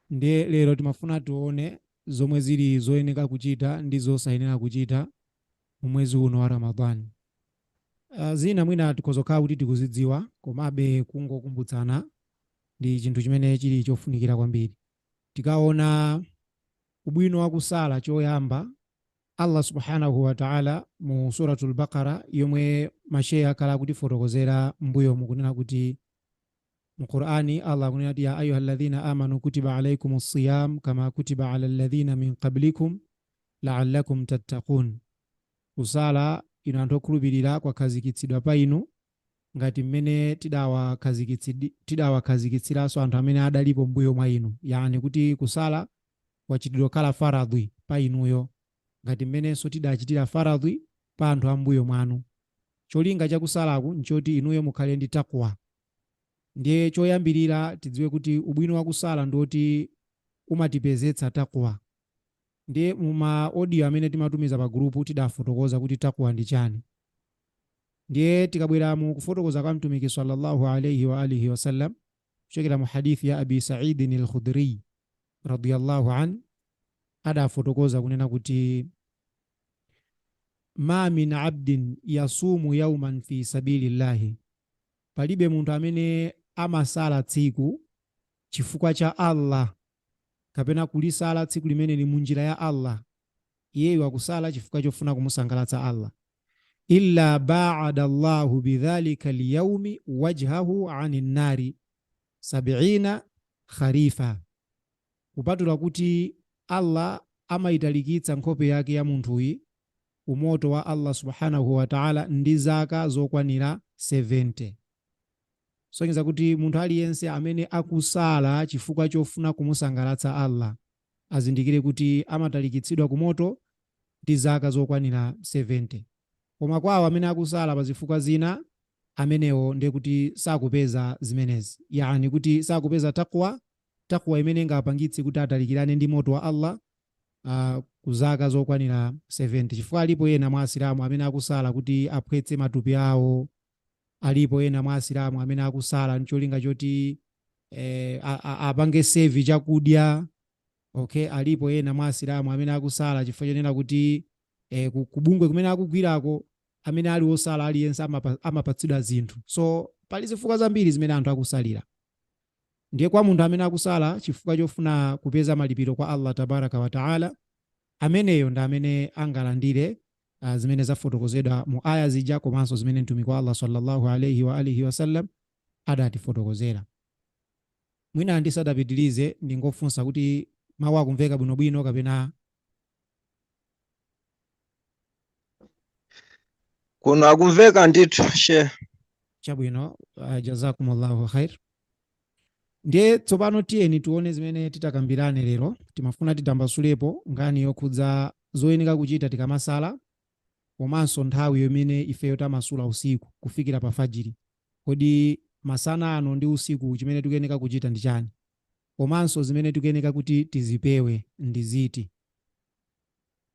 Ndiye lero timafuna tione zomwe zili zoyeneka kuchita ndi zosayenera kuchita mu mwezi uno wa Ramadhan. Zina mwina tikhoza kukhala kuti tikuzidziwa komabe kungokumbutsana ndi chinthu chimene chili chofunikira kwambiri. Tikaona ubwino wa kusala choyamba, Allah Subhana-hu wata'ala mu Surat-ul-Baqara yomwe ma Shehe akhala akutifotokozera m'mbuyomu kunena kuti Mu Qur'an Allah akunena kuti, Ya ayuha alladhina amanu kutiba alaikumu siyam kama kutiba ala alladhina min qablikum la'allakum tattaqun. Kusala, inu anthu okhulupirira, kwakhazikitsidwa pa inu ngati mmene tidawakhazikitsiranso anthu amene adalipo m'mbuyo mwa inu, yaani kuti kusala kwachitidwa kukhala faradhwi pa inuyo ngati mmenenso tidachitira faradhwi pa anthu a m'mbuyo mwanu. Cholinga cha kusalaku n'choti inuyo mukhale ndi Taqwa. Ndiye choyambirira tidziwe kuti ubwino wa kusala ndi woti umatipezetsa Taqwa. Ndiye mu ma audio amene timatumiza pa gulupu tidafotokoza kuti Taqwa ndi chani. Ndiye tikabwera mu kufotokoza kwa Mtumiki, Sallallahu Alayhi Wa Alihi Wasallam, kuchokera mu hadith ya Abi Sa'idin al-Khudri radiyallahu an adafotokoza kunena kuti ma min abdin yasumu yauman fi sabilillahi, palibe munthu amene amasala tsiku chifukwa cha Allah kapena kulisala tsiku limeneli munjira ya Allah, iyeyo akusala chifukwa chofuna kumusangalatsa Allah. illa baada Allahu bidhalika lyaumi wajhahu ani nnari sabiina kharifa, kupatula kuti Allah amayitalikitsa nkhope yake ya munthuyi ku moto wa Allah subhanahu wa ta'ala ndi zaka zokwanira 70. Sonyeza kuti munthu aliyense amene akusala chifukwa chofuna kumusangalatsa Allah azindikire kuti amatalikitsidwa ku moto ndi zaka zokwanira 70. Koma kwa awo amene akusala pa zifukwa zina, amenewo ndiye kuti sakupeza zimenezi, yaani kuti sakupeza taqwa, taqwa imene ingawapangitse kuti atalikirane ndi moto wa Allah uh, ku zaka zokwanira 70, chifukwa alipo ena mwa Asilamu amene akusala kuti aphwetse matupi awo Alipo ena mwa Asilamu amene akusala ncholinga choti eh, apange save chakudya okay. Alipo ena mwa Asilamu amene akusala chifukwa chonena kuti eh, kubungwe kumene akugwirako amene ali osala aliyense amapatsidwa zinthu, so pali zifukwa zambiri zimene anthu akusalira. Ndiye kwa munthu amene akusala chifukwa chofuna kupeza malipiro kwa Allah tabaraka wa taala, ameneyo ndi amene angalandire a zimene zafotokozedwa mu ayah zija komanso zimene Mtumiki wa Allah sallallahu alayhi wa alihi wasallam adatifotokozera. Mwina ndisadapitirize ndingofunsa kuti mawu akumveka bwinobwino kapena kuno akumveka ndithu she chabwino. Uh, jazakumullahu khair. Ndiye tsopano tiyeni tione zimene titakambirane lero. Timafuna titambasulepo nkhani yokhudza zoyenera kuchita tikamasala komanso nthawi imene ifeyo tamasula usiku kufikira pa fajiri. Kodi masana ano ndi usiku chimene tikuyeneka kuchita ndi chani? Komanso zimene tikuyeneka kuti tizipewe ndi ziti?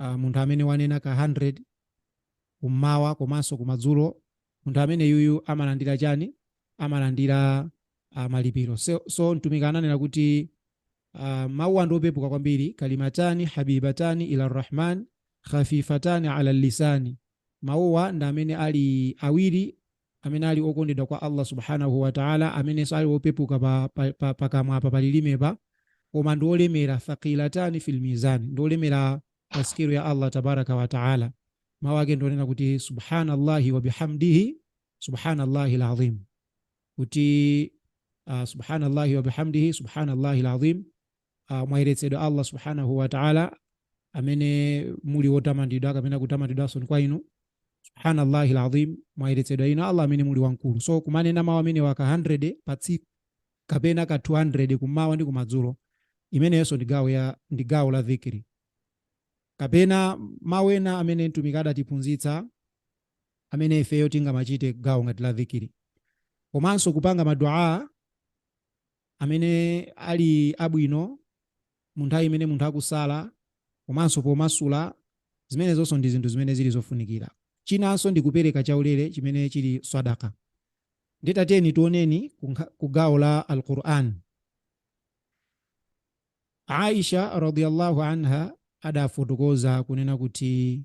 uh, munthu amene wanena ka 100 kummawa komanso kumadzulo munthu amene yuyu amalandira chani amalandira uh, malipiro so, so mtumiki ananena kuti uh, mawuwa ndi opepuka kwambiri kalimatani habibatani ila rrahman khafifatani ala lisani mawuwa ndi amene ali awiri amene ali okondedwa kwa Allah subhanahu wa ta'ala amenenso ali opepuka pa, pa, pa, pa kamwa pa palilime pa koma ndi olemera thaqilatani fil mizan ndi olemera pa sikelo ya Allah tabaraka wa ta'ala mawu ake ndi onena kuti subhanallahi wa bihamdihi subhanallahi alazim kuti uh, subhanallahi wa bihamdihi subhanallahi alazim uh, mwayeretsedwa Allah subhanahu wa ta'ala amene muli wotamandidwa kapena kutamandidwanso kwa inu subhanallahi alazim mwayeretsedwa inu Allah amene muli wamkulu so kumanena mawu amenewa ka 100 pa tsiku kapena ka 200 kummawa ndi kumadzulo imeneyonso ndi gawo ya ndi gawo la dhikri kapena mawu ena amene mtumiki adatiphunzitsa amene ifeyo tingamachite gawo ngati la dhikiri komanso kupanga maduaa amene ali abwino mu nthawi imene munthu akusala komanso pomasula, zimenezonso ndi zinthu zimene zili zofunikira. Chinanso ndi kupereka chaulere chimene chili Swadaqah. Ndiye tatiyeni tioneni ku gawo la Al Qur'an. Aisha radiyallahu anha adafotokoza kunena kuti.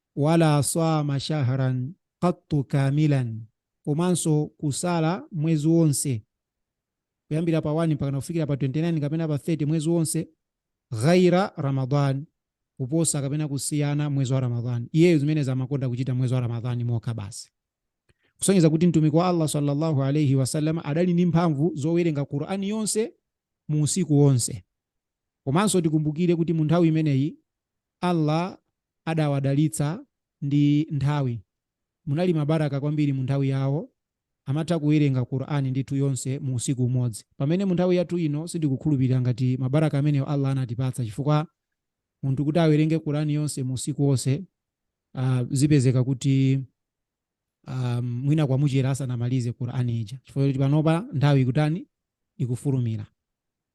Wala saama shahran qattu kaamilan, komanso kusala mwezi wonse kuyambira pa 1 mpakana kufikira pa 29 kapena pa 30 mwezi wonse, ghaira Ramadhan, kuposa kapena kusiyana mwezi wa Ramadhan. Iyeyo zimenezi amakonda kuchita mwezi wa Ramadhan mokha basi. Kusonyeza kuti Mtumiki wa Allah sallallahu alayhi wasallam adali ndi mphamvu zowerenga Qur'an yonse mu usiku wonse. Komanso tikumbukire kuti mu nthawi imeneyi Allah adawadalitsa ndi nthawi, munali ma baraka kwambiri mu nthawi yawo, amatha kuwerenga Qur'an ndithu yonse mu usiku umodzi, pamene mu nthawi yathu ino sindikukhulupilira ngati ma baraka amenewo Allah anatipatsa chifukwa munthu kuti awerenge Qur'an yonse mu usiku wonse uh, zipezeka kuti um, mwina kwamuchera asanamalize Qur'an ija chifukwa kuti panopa nthawi ikutani ikufulumira.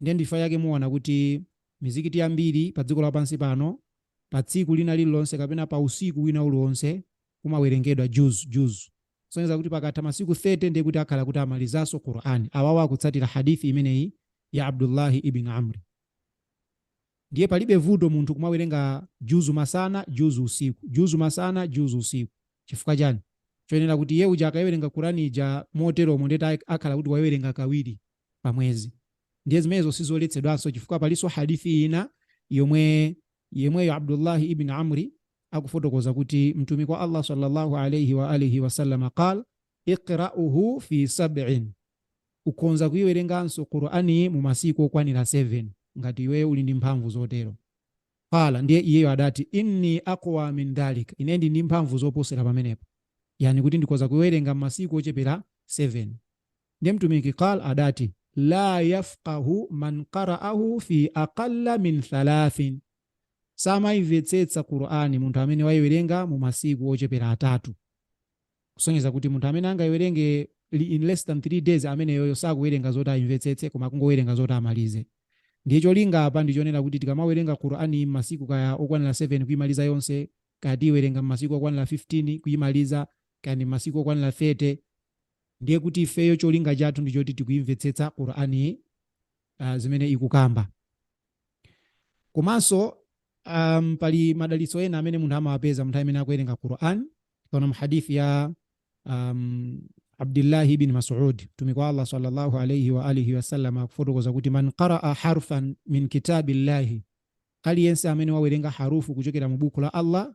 Ndiye ndichifukwa chake muona kuti mizikiti yambiri pa dziko lapansi pano, pa tsiku lina lililonse kapena pa usiku wina uliwonse kumawerengedwa juz, juz. Kusonyeza kuti pakatha masiku 30 ndiye kuti akhala kuti amalizanso Qur'an. Awawa akutsatira hadith imeneyi ya Abdullah ibn Amr. Ndiye palibe vuto munthu kumawerenga juz masana, juz usiku, juz masana, juz usiku. Chifukwa chani? Chosonyeza kuti iye uja akaiwerenga Qur'an ija moteromo ndiye akhala kuti waiwerenga kawiri. pa mwezi ndiye zimenezo sizoletsedwanso chifukwa palinso hadithi ina yemweyo abdullahi ibn amri akufotokoza kuti mtumiki wa allah sallallahu alaihi wa alihi wasallama qal iqra'uhu fi sab'in ukhonza kuiwerenganso qur'ani mu masiku okwanira 7 ngati iweyo uli ndi mphamvu zotero qala ndiye iyeyo adati inni aqwa min dhalika ine ndi ndi mphamvu zoposera pamenepo yani kuti ndikhoza kuiwerenga m'masiku ochepera 7 Ndiye Mtumiki, qala, adati, La yafqahu man qara'ahu fi aqalla min thalathin, samaimvetsetsa Qur'an munthu amene waiwerenga mu masiku ochepera atatu. Kusonyeza kuti munthu amene angaiwerenge in less than 3 days ameneyoyo sakuwerenga zoti aimvetsetse koma akungowerenga zoti amalize. Ndiye cholinga apa ndi chonena kuti tikamawerenga Qur'an m'masiku kaya okwanira 7 kuimaliza yonse, kaya tiiwerenga m'masiku okwanira 15 kuimaliza, kaya ndi m'masiku okwanira 30, ndiye kuti ifeyo cholinga chathu ndi choti tikuimvetsetsa qur'ani uh, zimene ikukamba komanso um, pali madalitso ena amene munthu amawapeza munthu amene akuwerenga qur'an tikaona muhadithi ya um, abdullahi ibn masud mtumiki wa allah sallallahu alaihi wa alihi wasallam akufotokoza kuti man qaraa harfan min kitabillahi aliyense amene wawerenga harufu kuchokera mu buku la allah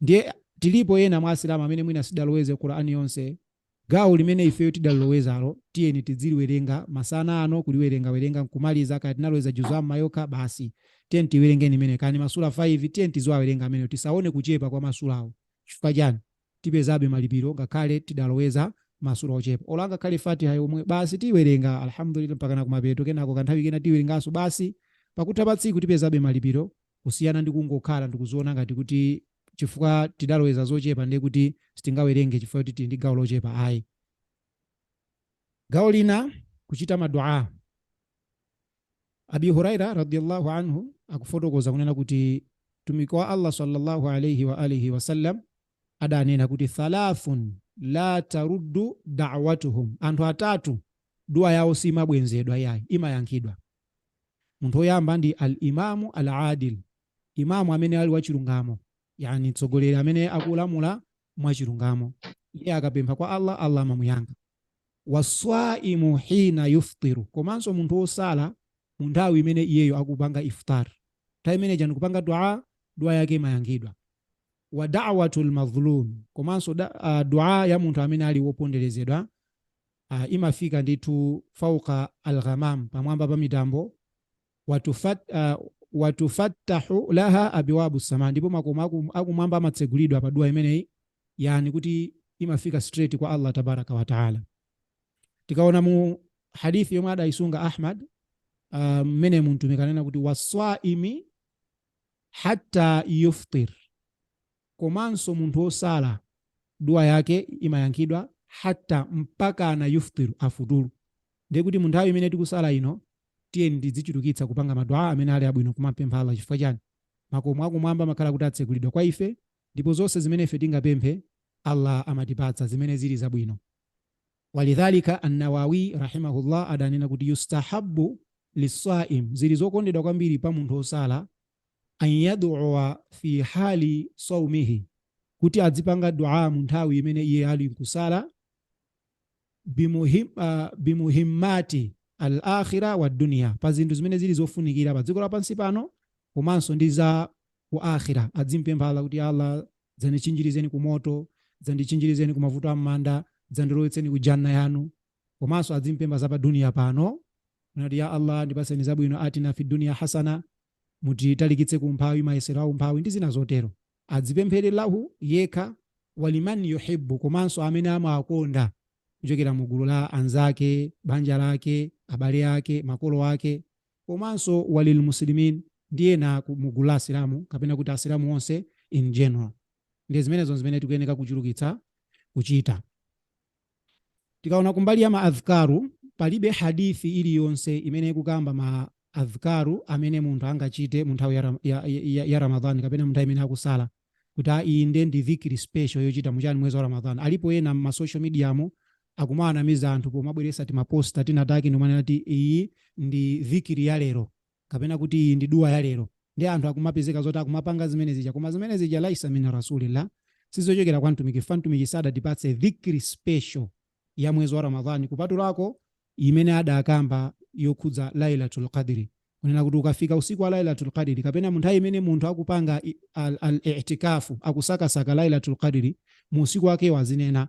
Ndiye tilipo ena mwa asilamu amene mwina sitidaloweze Qur'an yonse. Gawo limene ifeyo tidalilowezalo tiyeni tiziliwerenga masana ano, kuliwerengawerenga nkumaliza, kaya tinaloweza juzu amma yokha basi. Tiyeni tiiwerengeni imeneyo. Kaya ndi masura 5, tiyeni tiziwawerenga amenewo. Tisaone kuchepa kwa masurawo. Chifukwa chiyani? Tipezabe malipiro ngakhale tidaloweza masura ochepa. Olo ingakhale Fatiha yomwe, basi tiiwerenge Alhamdulillah mpakana kumapeto, kenako kanthawi kena tiiwerengenso basi. Pakutha pa tsiku tipezabe malipiro kusiyana ndi kungokhala ndikuziona ngati kuti chifukwa tidaloweza zochepa ndiye kuti sitingawerenge chifukwa kuti tili ndi gawo lochepa ayi gawo lina kuchita madua abi huraira radiallahu anhu akufotokoza kunena kuti mtumiki wa allah sallallahu alaihi wa alihi wasallam adanena kuti thalathatun la taruddu dawatuhum anthu atatu dua yawo simabwenzedwa yayi imayankhidwa Munthu woyamba ndi Al-Imaamu Al-Aadil, Imaam amene ali wachilungamo, yaani mtsogoleri amene akulamula mwachilungamo. Iye akapempha kwa Allah, Allah amamuyankha. Waswaimu hiina yuftiru, komanso munthu wosala mu nthawi imene iyeyo akupanga iftaar, nthawi imeneyi ija ndikupanga dua, dua yake imayankhidwa. Wa da'watul madhluum, komanso dua ya munthu amene ali woponderezedwa. Ha, imafika ndithu fauqa al-ghamam, pamwamba pa mitambo, wa tufat, wa tufattahu laha abwabu sama, ndipo makomo akumwamba amatsegulidwa pa dua imeneyi, yani kuti imafika straight kwa Allah tabaraka wa taala. Tikaona mu hadithi yomwe adaisunga Ahmad mmene um, mtumiki anena kuti waswaimi hatta yuftir Komanso munthu wosala, dua yake imayankhidwa, hatta, mpakana, yuftir, afuturu. Ndiye kuti mu nthawi imene tikusala ino, tiyeni tidzichulukitsa kupanga ma dua amene ali abwino kumampempha Allah chifukwa chani? Makomo akumwamba amakhala kuti atsegulidwa kwa ife ndipo zonse zimene ife tingapemphe Allah amatipatsa zimene zili zabwino. Walidhalika An-Nawawiy rahima-hullâh adanena kuti, Yustahabbu liswa'im, zili zokondedwa kwambiri pa munthu wosala, an yad'uwa fi hali sawmihi, kuti adzipanga Du'aa mu nthawi imene iye ali nkusala, bi muhimmati al-akhira wa dunya, pa zinthu zimene zili zofunikira pa dziko lapansi pano komanso ndi za ku akhira. Adzimpempha Allah kuti, Ya Allah dzandichinjirizeni ku moto, dzandichinjirizeni ku mavuto a m'manda, dzandilowetseni ku Jannah yanu. komanso adzimpempha za pa duniya pano nati ya allah ndipatseni zabwino atina fi duniya hasana mutitalikitse ku umphawi mayesero a umphawi ndi zina zotero adzipemphere lahu yekha waliman yuhibbu komanso amene amawakonda kuchokera mu gulu la anzake banja lake abale ake makolo ake komanso walil muslimin ndi ena ku- mu gulu la asilamu kapena kuti asilamu onse in general ndiye zimenezo zimene tikuyeneka kuchulukitsa kuchita Tikaona kumbali ya ma adhkaaru, palibe hadith iliyonse imene ikukamba ma adhkaaru amene munthu angachite mu nthawi ya, Ram, ya, ya, ya Ramadhan kapena mu nthawi imene akusala kuti a iyi nde ndi dhikri special yochita muchani mwezi wa Ramadhan. Alipo ena mma social media mo akumawanamiza anthu pomabweresa timaposter tina take ndikumanena kuti iyi ndi dhikri ya lero. kapena kuti iyi ndi dua ya lero ndi anthu akumapezeka zoti akumapanga zimene zija koma zimene zija laisa min rasulillah sizochokera kwa mtumiki mtumiki sadatipatse dhikri ya special ya mwezi wa ramadhani kupatulako imene adakamba yokhudza lailatul qadri kunena kuti ukafika usiku wa lailatul qadri kapena munthawi imene munthu akupanga i- al- al-i'tikafu akusakasaka lailatul qadri mu usiku wakewo azinena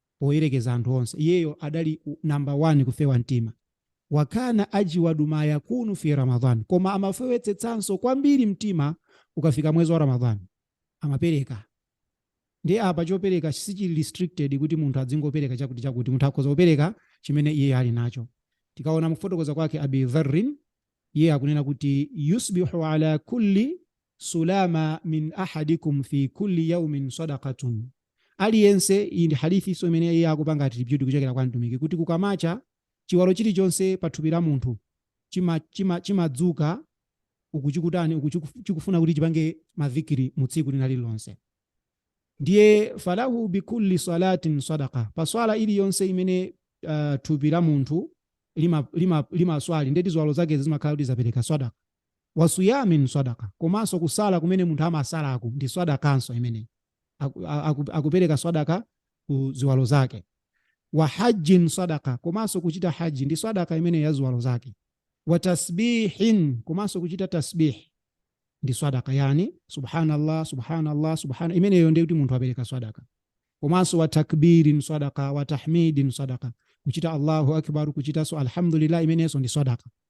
poyerekeza anthu onse iyeyo adali number 1 kufewa mtima wakana ajwadu ma yakunu fi ramadan koma amafewetsetsanso kwambiri mtima ukafika mwezi wa ramadan amapereka ndiye apa chopereka sichili restricted kuti munthu adzingopereka chakuti chakuti munthu akhoza kupereka chimene iyeyo ali nacho tikaona mukufotokoza kwake abi dharrin iye akunena kuti yusbihu ala kulli sulama min ahadikum fi kulli yaumin sadakatun aliyense, iyi ndi hadithinso imene iye akupanga attribute kuchokera kwa mtumiki kuti kukamacha chiwalo chilichonse pa thupi la munthu chimadzuka chima, chima, chima ukuchikutani ukuchikufuna kuti chipange madhikiri mu tsiku lina lililonse ndiye falahu bikulli salatin sadaka pa swala iliyonse imene uh, thupi la munthu limaswali lima, lima ndeti ziwalo zake zimakhala kuti zapereka sadaka wa swiyamin swadaqah, komanso kusala kumene munthu amasalaku ndi swadaqanso imene akupereka swadaqah ku ziwalo zake, wa hajjin swadaqah, komanso kuchita hajji ndi swadaqah imene ya ziwalo zake, wa tasbihin, komanso kuchita tasbih ndi swadaqah, yani subhanallah subhanallah subhana, imeneyo ndi kuti munthu apereka swadaqah, komanso wa takbirin swadaqah, wa tahmidin swadaqah, kuchita Allahu akbar, kuchitanso alhamdulillah, imeneyonso ndi swadaqah.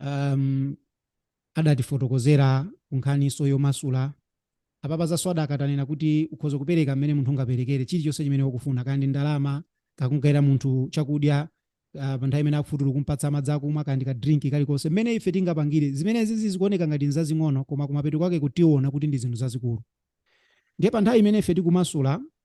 um, adatifotokozera kunkhaninso yomasula apapa za swadaka tanena kuti ukhoza kupereka mmene munthu ungaperekere chilichonse chimene wakufuna kaya ndi ndalama kaya kumugaira munthu chakudya uh, pa nthawi imene akufutulu kumpatsa madzi akumwa kaya ndi ka drink kalikonse mmene ife tingapangire zimene zizi zikuoneka ngati nzazing'ono koma kumapeto kwake kutiona kuti ndi zinthu zazikulu ndiye pa nthawi imene ife tikumasula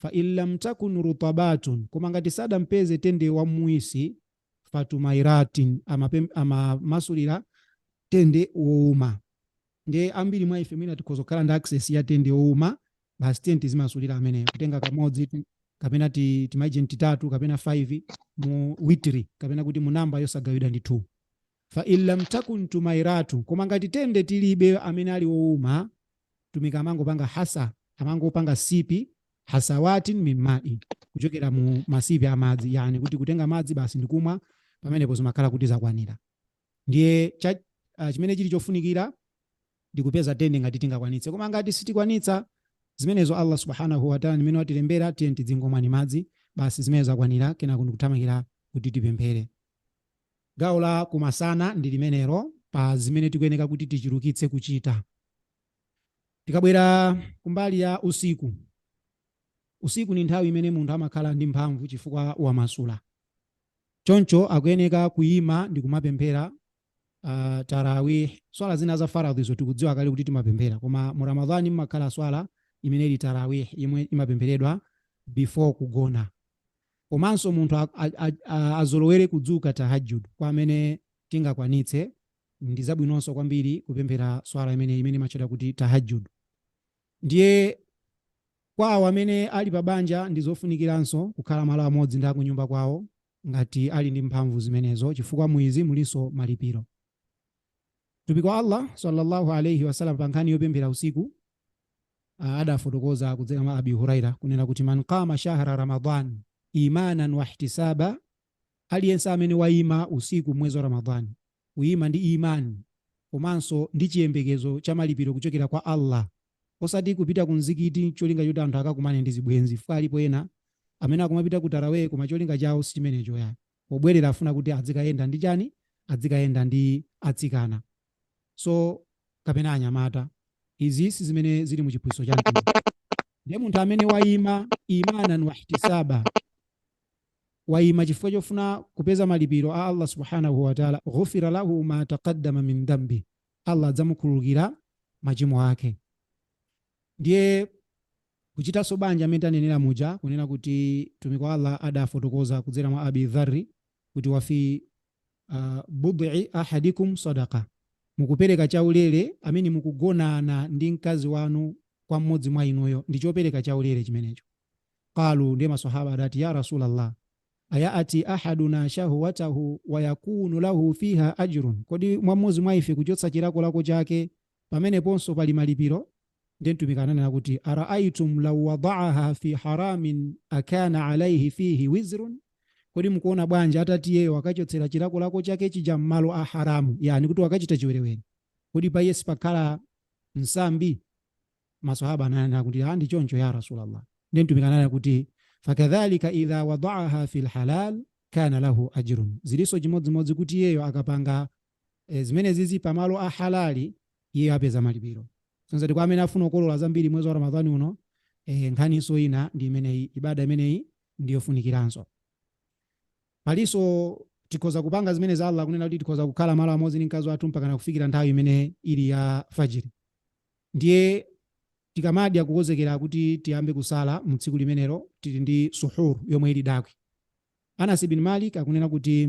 Fa in lam takun rutabatun, koma ngati sadampeze tende wamuwisi, fa tumairatin, amapem- amamasulira tende wouma. Ndiye ambiri mwa ife mwina tikhoza kukhala ndi access ya tende wouma, basi tiyeni tizimasulira ameneyo, kutenga kamodzi ti- kapena ti- timaijenti titatu kapena 5 mu witri kapena kuti mu namba yosagawidwa ndi 2. Fa in lam takun tumairatu, koma ngati tende tilibe amene ali wouma, Mtumiki amangopanga hasa, amangopanga sipi, hasawatin min ma'in, kuchokera mu masipi a madzi, yani kuti kutenga madzi basi ndikumwa, pamenepo zimakhala kuti zakwanira. Ndiye cha, uh, chimene chili chofunikira ndi kupeza tende ngati tingakwanitse, koma ngati sitikwanitsa zimenezo ndiye kuti Allah subhanahu wa ta'ala nimene watilembera tiye tidzingomwa madzi basi zimene zakwanira kenako ndikuthamangira kuti tipemphere Gawo la kumasana ndi limenelo pa zimene tikuyeneka kuti tichulukitse kuchita. Tikabwera kumbali ya usiku, usiku ndi nthawi imene munthu amakhala ndi mphamvu chifukwa wamasula. Choncho akuyeneka kuyima ndi kumapemphera uh, tarawih. Swala zina za faradhizo tikudziwa kale kuti timapemphera, koma mu Ramadhani mmakhala swala imene ili tarawih yomwe imapempheredwa before kugona. Komanso munthu azolowere kudzuka Tahajjud kwa amene tingakwanitse, ndi zabwinonso kwambiri kupemphera Swala imeneyi imene imatchedwa kuti Tahajjud. Ndiye kwa awo amene ali pa banja ndi zofunikiranso kukhala malo amodzi ndi akunyumba kwawo ngati ali ndi mphamvu zimenezo chifukwa mu izi mulinso malipiro. Mtumiki wa Allah swalla Allahu alaih wasallam pa nkhani yopemphera usiku adafotokoza kudzera mwa Abi Huraira kunena kuti man qama shahra Ramadan imanan wahtisaba, aliyense amene waima usiku m'mwezi wa Ramadhani kuima ndi imani komanso ndi chiyembekezo cha malipiro kuchokera kwa Allah, osati kupita ku mzikiti cholinga choti anthu akakumane ndi zibwenzi, chifukwa alipo ena amene akumapita ku tarawih koma cholinga chawo si chimenecho ya pobwerera afuna kuti adzikayenda ndi chani, adzikayenda ndi atsikana. so kapena anyamata izi si zimene zili mu chiphunzitso cha mtumiki ndiye munthu amene wayima imanan wahtisaba wayima chifukwa chofuna kupeza malipiro a allah subhanahu wataala ghufira lahu ma taqaddama min dhambi allah adzamukhululukira machimo ake ndiye kuchitanso banja mmene tanenera muja kunena kuti mtumiki wa allah adafotokoza kudzera mwa abi dharri kuti wafi uh, bud'i ahadikum sadaqa mukupereka chaulere mmene mukugonana ndi mkazi wanu kwa mmodzi mwa inuyo ndi chopereka chaulere chimenecho qalu ndiye masahaba adati ya rasulallah ayati ahaduna shahwatahu wayakunu lahu fiha ajrun kodi mwa mmodzi mwa ife kuchotsa chilakolako chake Pameneponso pali malipiro ndiye Mtumiki ananena kuti araaitum law wadaaha fi haramin akana alaihi fihi wizrun, kodi mukuona bwanji atati iyeyo akachotsera chilakolako chake chija m'malo a haramu, yani kuti wakachita chiwerewere, kodi pa iye sipakhala nsambi? Maswahaba ananena kuti a ndi choncho ya Rasulallah. Ndiye Mtumiki ananena kuti fakadhalika idha wadaaha fi lhalal kana lahu ajrun, zilinso chimodzimodzi kuti iyeyo akapanga E, zimenezizi pa malo a halali iye apeza malipiro. So kwa amene afuna kukolola zambiri mwezi wa Ramadhani uno, e, nkhaninso ina ndi imeneyi, ibada imeneyi ndi yofunikiranso. Palinso tikhoza kupanga zimene za Allah kunena kuti tikhoza kukhala malo amodzi ndi mkazi wathu mpaka kufikira nthawi imene ili ya fajiri. Ndiye tikamadya kukonzekera kuti tiyambe kusala mu tsiku limenelo tili ndi suhur yomwe ili dakwi. Anas ibn Malik akunena kuti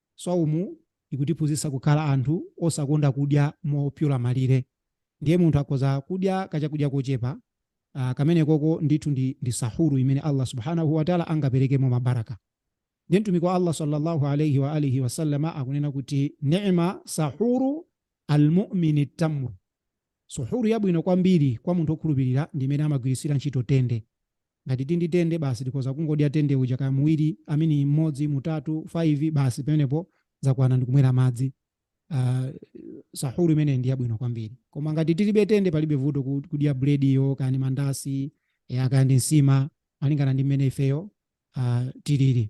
Swaumu ikutiphunzitsa kukhala anthu osakonda kudya mopyola malire. Ndiye munthu akhoza kudya kachakudya kochepa, ah, kamenekoko ndithu ndi, ndi Sahuru imene Allah Subhaanah wa Ta'la angaperekemo ma barakah. Ndiye Mtumiki wa Allah sallallaahu alayhi wa aalihi wa sallam akunena kuti, Ni'ma Sahuru al-mu'mini at-tamru, Sahuru yabwino kwambiri kwa munthu okhulupilira ndi imene amagwiritsira ntchito tende. Ngati tindi tende basi tikhoza kungodya tende uja kaya muwili amini mmodzi mutatu faivi basi pamenepo zakwana ndikumwela madzi uh, sahuru imene ndi yabwino kwambiri koma ngati tilibe tende palibe vuto kudya bulediyo kaya ndi mandasi kaya ndi nsima malingana ndi mmene ifeyo uh, tilili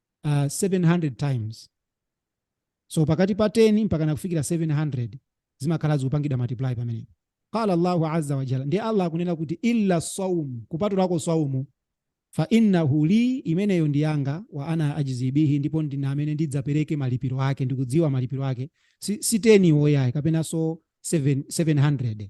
uh, 700 times so pakati pa 10 mpaka nakufikira 700 zimakhala zikupangidwa multiply pamenepo qala allahu azza wa jalla ndiye allah akunena kuti illa saum kupatulako saumu fa innahu li imeneyo ndi yanga wa ana ajzi bihi ndipo ndine amene ndidzapereke malipiro ake ndikudziwa malipiro ake si, si 10 yo ayi kapenanso 7, 700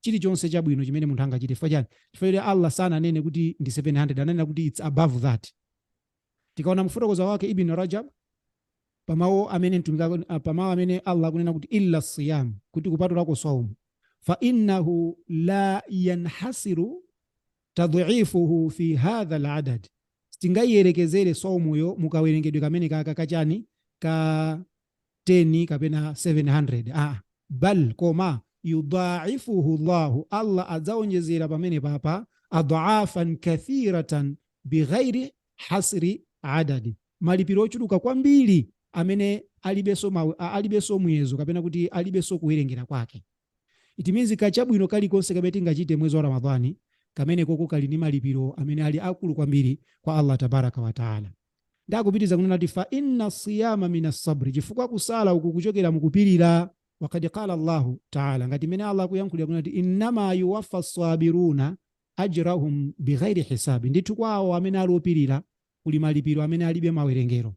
chilichonse chabwino chimene munthu angachite chifukwa chani chifukwa choti allah sananene kuti ndi 700 ananena kuti its above that tikaona mu kufotokoza kwake ibn rajab pamawu amene mtumiki aku- ah, pamawu amene allah akunena kuti illa siyam kuti kupatulako saumu fa innahu la yanhasiru tadhifuhu fi hadha al adad sitingayiyerekezere saumuyo mukawerengedwe kamenekaka kachani ka 10 kapena 700 aa bal koma yudaifuhu llahu allah adzaonjezera pamenepapa adafan kathiratan bighairi hasri adadi malipiro ochuluka kwambiri amene alibenso mawu- a- alibenso muyezo kapena kuti alibenso kuwerengera kwake it means kachabwino kalikonse kamene tingachite mwezi wa ramadhani kamenekoko kali ndi malipiro amene ali akulu kwambiri kwa allah tabaraka wataala Nde akupitiliza kunena kuti, Fa inna siyama min assabri, chifukwa kusala uku kuchokera mu kupilira. Wa kad qala Allahu Taala, ngati mmene Allah akuyankhulira kunena kuti, Innama yuwaffa assabiruna ajrahum bighairi hisabi, ndithu kwa awo amene ali opilira kuli malipiro amene alibe mawerengero.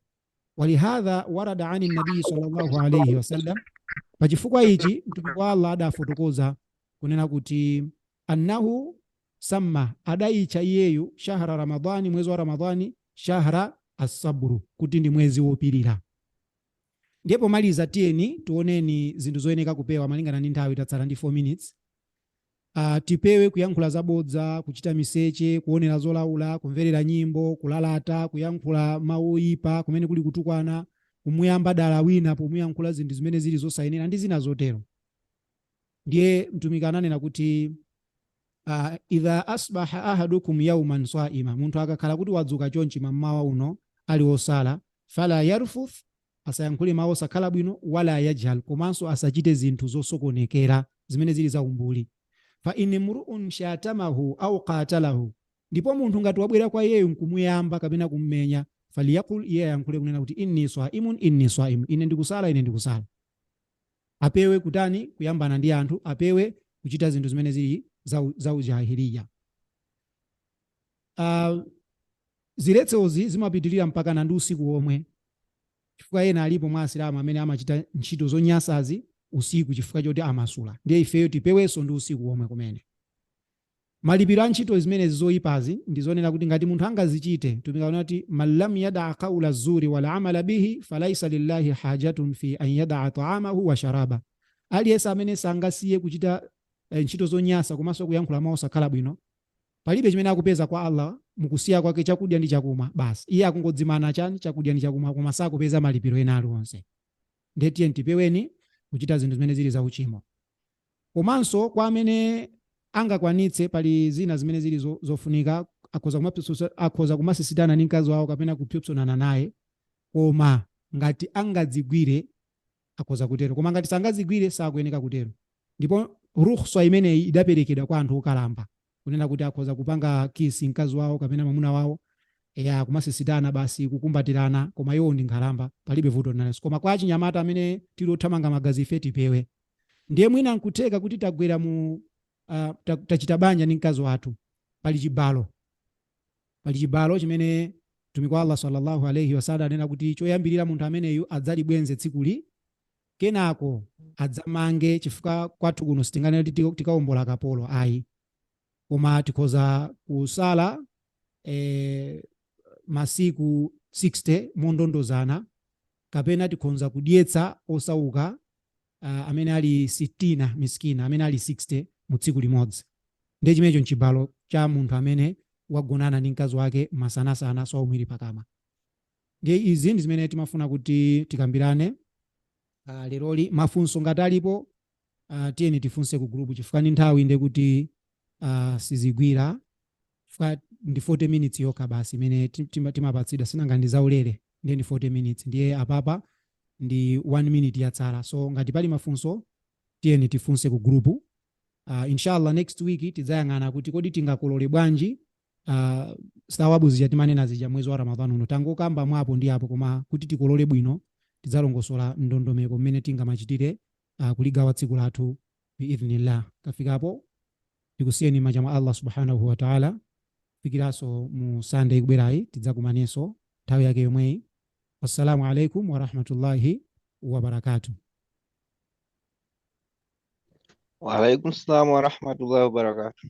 Wa li hadha warada ani nabii sallallahu alayhi wasallam, pa chifukwa ichi Mtumiki wa Allah adafotokoza kunena kuti, Annahu samma, adaitcha iyeyu, shahra Ramadhan, mwezi wa Ramadhan, shahra Assabru, kuti ndi mwezi wopirira. Ndiye pomaliza tiyeni tioneni zinthu zoyeneka kupewa malingana ndi nthawi tatsala ndi 4 minutes. Uh, tipewe kuyankhula zabodza, kuchita miseche, kuonera zolaula, kumverera nyimbo, kulalata, kuyankhula mawu oyipa kumene kuli kutukwana, kumuyamba dala wina pomuyankhula zinthu zimene zili zosayenera ndi zina zotero. ndiye mtumiki ananena kuti uh, idha asbaha ahadukum yauman saima munthu akakhala kuti wadzuka chonchi mammawa uno ali osala fala yarfuth asayankhule mawu osakhala bwino wala yajhal komanso asachite zinthu zosokonekera zimene zili za umbuli fa in mruun shatamahu au qatalahu ndipo munthu ngati wabwera kwa iyeyo nkumuyamba kapena kummenya faliyakul iye ayankhule kunena kuti inni swaimun inni swaimun ine ndikusala ine ndikusala Apewe kutani? Kuyambana ndi anthu, apewe kuchita zinthu zimene zili za, za ujahiliya. Uh, ziletsozi zimapitirira mpakana ndi usiku womwe, chifukwa ena alipo mwa asilamu amene amachita ntchito zonyansazi usiku chifukwa choti amasula. Ndiye ifeyo tipewenso ndi usiku womwe kumene. Malipiro a ntchito zimenezi zoipazi ndi zonena kuti ngati munthu angazichite, Mtumiki akunena kuti, Man lam yada'a qaula zuri wal amala bihi falaisa lillahi hajatun fi an yada'a ta'amahu wa sharaba, Aliyense amene sangasiye kuchita ntchito zonyansa komanso kuyankhula mau osakhala bwino, palibe chimene akupeza kwa Allah mu kusiya kwake chakudya ndi chakumwa, basi iye akungodzimana chani? chakudya ndi chakumwa koma sakupeza malipiro ena aliwonse. Ndiye tiyeni tipeweni kuchita zinthu zimene zili za uchimo. komanso kwa amene angakwanitse pali zina zimene zili zo- zofunika akhoza kumapyopsosa- akhoza kumasisitana ndi mkazi wawo kapena kupsopsonana naye koma ngati angadzigwire akhoza kutero koma ngati sangadzigwire sakuyeneka kutero ndipo rukhswa imeneyi idaperekedwa kwa anthu okalamba kunena kuti akhoza kupanga kiss mkazi wawo kapena mwamuna wawo eya kumasisitana basi kukumbatirana koma iwo ndi nkhalamba palibe vuto nalenso koma kwa achinyamata amene tili othamanga magazi ife tipewe ndiye mwina nkutheka kuti tagwera mu uh, ta, tachita banja ndi mkazi wathu pali chibalo pali chibalo chimene mtumiki wa allah sallallahu alaihi wasallam anena kuti choyambirira munthu ameneyu adzalibwenze tsikuli kenako adzamange chifukwa kwathu kuno sitinganene kuti ti- tikawombola kapolo ayi koma tikhoza kusala eh, masiku 60 mondondozana kapena tikhonza kudyetsa osauka ah, amene ali sitina miskina amene ali 60 mu tsiku limodzi ndiye chimenecho nchibalo cha munthu amene wagonana ndi mkazi wake masanasana swaumu ili pakamwa Ndiye izi ndi zimene timafuna kuti tikambirane ah, leroli. Mafunso ngati alipo ah, tiyeni tifunse ku group chifukwa ndi nthawi ndiye kuti ah, sizigwira chifukwa ndi 40 minutes yokha basi imene ti- tima- timapatsidwa sinanga ndi zaulere ndiye ndi 40 minutes ndiye apapa ndi 1 minute yatsala so ngati pali mafunso tiyeni tifunse ku group uh, inshallah next week tidzayang'ana kuti kodi tingakolole bwanji uh, sawabu zija timanena zija mwezi wa ramadhan uno tangokamba mwapo ndi apo koma kuti tikolole bwino tidzalongosola ndondomeko mmene tingamachitire uh, kuligawa tsiku lathu biidhnillah kafikapo tikusiyeni mmanja mwa allah subhanahu wa taala fikiranso mu sande ikubwerayi tidzakumanenso nthawi yake yomweyi wassalamu alaikum warahmatullahi wabarakatuh Wa alaikum salam wa rahmatullahi wa barakatuh.